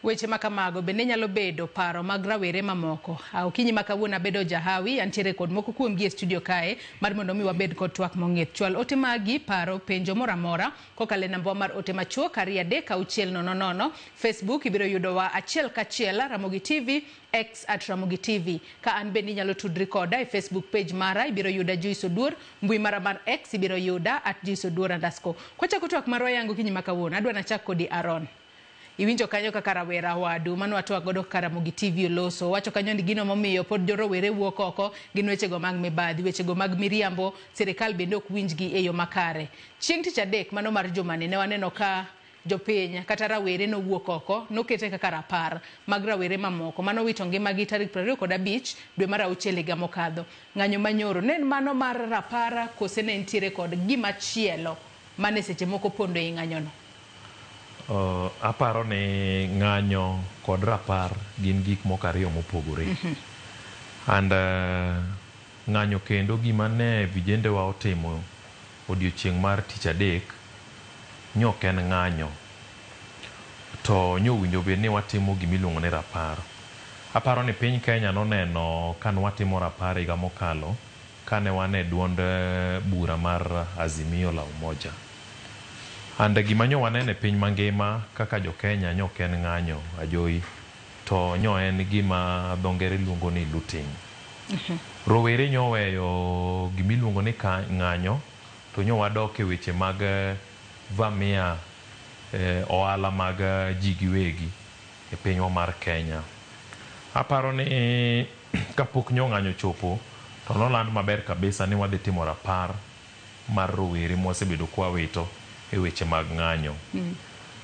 Weche ma kamago bende nyalo bedo paro mag rawere mamoko. A Okinyi ma kawuono abedo jahawi, antiere kod moko kuomgi e studio kae mar mondo mi wabed kod twak mong'ith. Chwal ote magi, paro, penjo moro amora kokalo e nambawa mar ote machuok ariyo adek auchiel nono nono. Facebook ibiro yudowa achiel kachiel, Ramogi TV, X at Ramogi TV. Ka an bende inyalo tudri koda e Facebook page mara ibiro yuda Joyce Oduor, mbui mara mar X ibiro yuda at Joyce Oduor underscore. Kwachako twak marwa yango kinyi ma kawuono, adwa nachak kodi Aaron. Iwinjo kanyo kaka rawera wadu mane watwak godo kaka Ramogi TV oloso. Owacho kanyo ni gino momiyo pod jorowere wuok oko gin wechego mag mibadhi, wechego mag miriambo, sirikal bende ok winjgi e yo makare. Chieng' tich adek mano mar jumani ne waneno ka Jopiny kata rawere nowuok oko nokete kaka rapar mag rawere mamoko manowito ngimagi tarik 25 dwe mar auchiel higa mokadho. Ng'anyo manyoro ne en mano mar rapar kose ne nitiere kod gimachielo mane seche moko pondo ei ng'anyono? Uh, aparo ni ng'anyo kod rapar gin gik moko ariyo mopogore. Mm -hmm. And uh, ng'anyo kendo gima ne vijendewa otimo Odiochieng' mar tich adek nyok en ng'anyo to nyowinjo bed ni watimo gima iluongo ni rapar. Aparo ni piny Kenya noneno kane watimo rapar e higa mokalo kane wan e duond bura mar Azimio la Umoja. And gima nyo waneno e piny mangima kaka jo Kenya nyok en ng'anyo ajowi. to nyo en gima dho ngere luongo ni looting. Rowere nyo oweyo gima iluongo ni ng'anyo to nyo wadok e weche mag vamia ohala mag ji giwegi e pinywa mar Kenya. Aparo ni kapok nyo ng'anyo ochopo to noland maber kabisa ni wadhi timo rapar mar rowere ma wasebedo ka wawito e weche mag ng'anyo.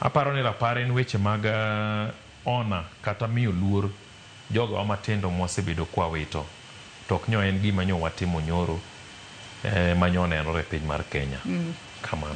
Aparo ni rapar en weche mag Ona kata miyo luor jogawa matindo mwasebedo kwawito to ok nyo en gima nyo watimo nyoro ema nyo nenore e piny mar Kenya. Kamano.